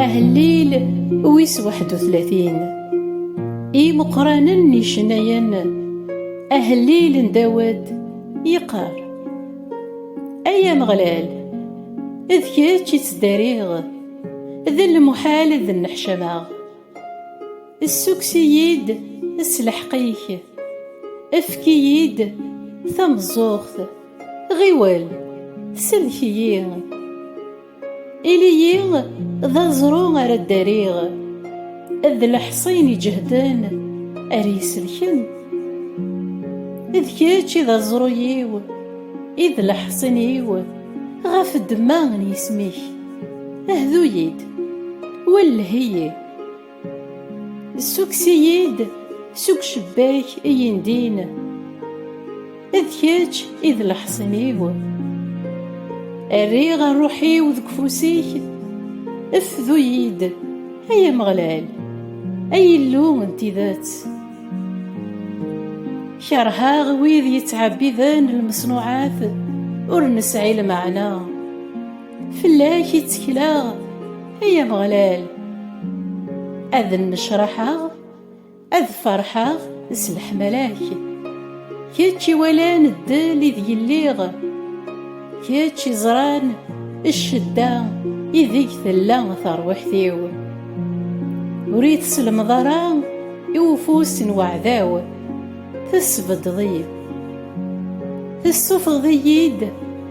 Ahellil wis waḥed u tlatin Imeqqranen n yicennayen Ahellil n Dawed yeqqar Ay Ameɣlal d kečč i ttdariɣ d lmuḥal ad nneḥcameɣ Ssukkes-iyi-d s lḥeqq-ik, efk-iyi-d tameẓẓuɣt, ɣiwel, sellek-iyi. Ili-yi d aẓru ara ddariɣ, d leḥṣin iǧehden ara iselken. D kečč i d aẓru-iw, i d leḥṣin-iw ɣef ddemma n yisem-ik. Hdu-yi-d, welleh-iyi, ssukkes-iyi-d seg ucebbak i yindin, d kečč i d leḥṣin-iw. Rriɣ rruḥ-iw deg ufus-ik, fdu-yi-d, ay Ameɣlal, ay Illu n tidet. Keṛheɣ wid yettɛebbiden lmeṣnuɛat ur nesɛi lmeɛna. Fell-ak i ttekleɣ, ay Ameɣlal, ad nnecraḥeɣ, ad ferḥeɣ s leḥmala-k. Kečč iwalan ddel ideg lliɣ, kečč iẓran ccedda ideg tella terwiḥt-iw. Ur iyi-teslemḍ ara i ufus n weɛdaw, tesbeddeḍ-iyi-d. Tessufɣeḍ-iyi-d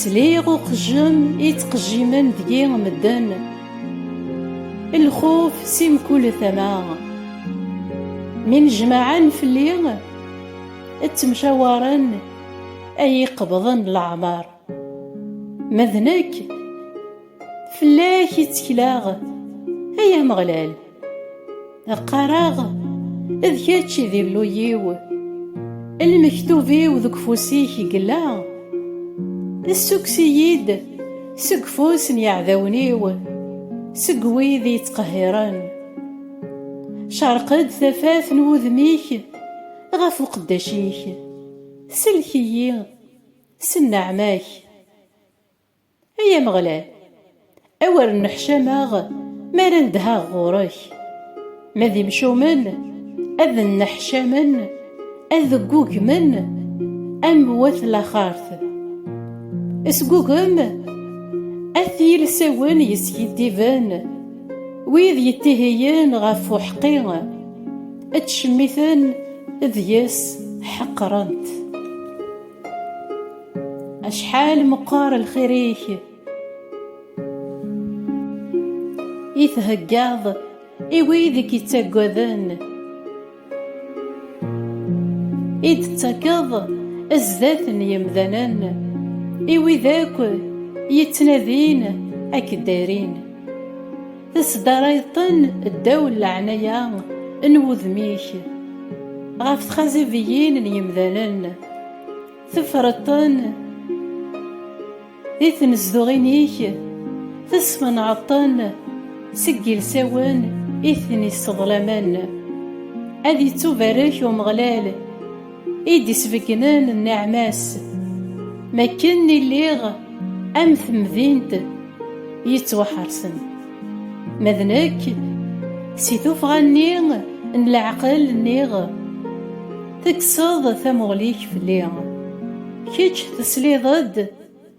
Sliɣ uqejjem i ttqejjimen deg-i medden, lxuf si mkul tama. Mi nejmaɛen fell-i, ttemcawaren ad iyi-qebḍen leɛmer. Ma d nekk. Fell-ak i ttekleɣ, ay Ameɣlal. Qqareɣ, d kečč i d Illu-iw. Lmektub-iw deg ufus-ik yella. Ssukkes-iyi-d seg ufus n yiɛdawen-iw, seg wid i yi-ittqehhiren. Cerq-d tafat n wudem-ik ɣef uqeddac-ik, sellek-iyi s nneɛma-k. Ay Ameɣlal, awer nneḥcameɣ mi ara nedheɣ ɣur-k! Ma d imcumen, ad nneḥcamen, ad ggugmen am wat laxert. Sgugem at yilsawen yeskiddiben, wid yettihiyen ɣef uḥeqqi, ttcemmiten deg-s, ḥeqren-t. acḥal meqqar lxir-ik i theggaḍ i wid i k-ittaggaden i d-tettakeḍ zdat n yemdanen i wid akk yettnadin ak-ddarin Tesdarayeḍ-ten ddaw n leɛnaya n wudem-ik, ɣef txazabiyin n yemdanen, tefreḍ-ten di tnezduɣin-ik, tesmenɛeḍ-ten seg yilsawen i ten-isseḍlamen. Ad ittubarek Umeɣlal! i d-isbeggnen nneɛma-s, m akken i lliɣ am temdint yettwaḥersen, ma d nekk si tuffɣa-nni n leɛqel nniɣ, tekkseḍ tamuɣli-k fell-i, kečč tesliḍ-d,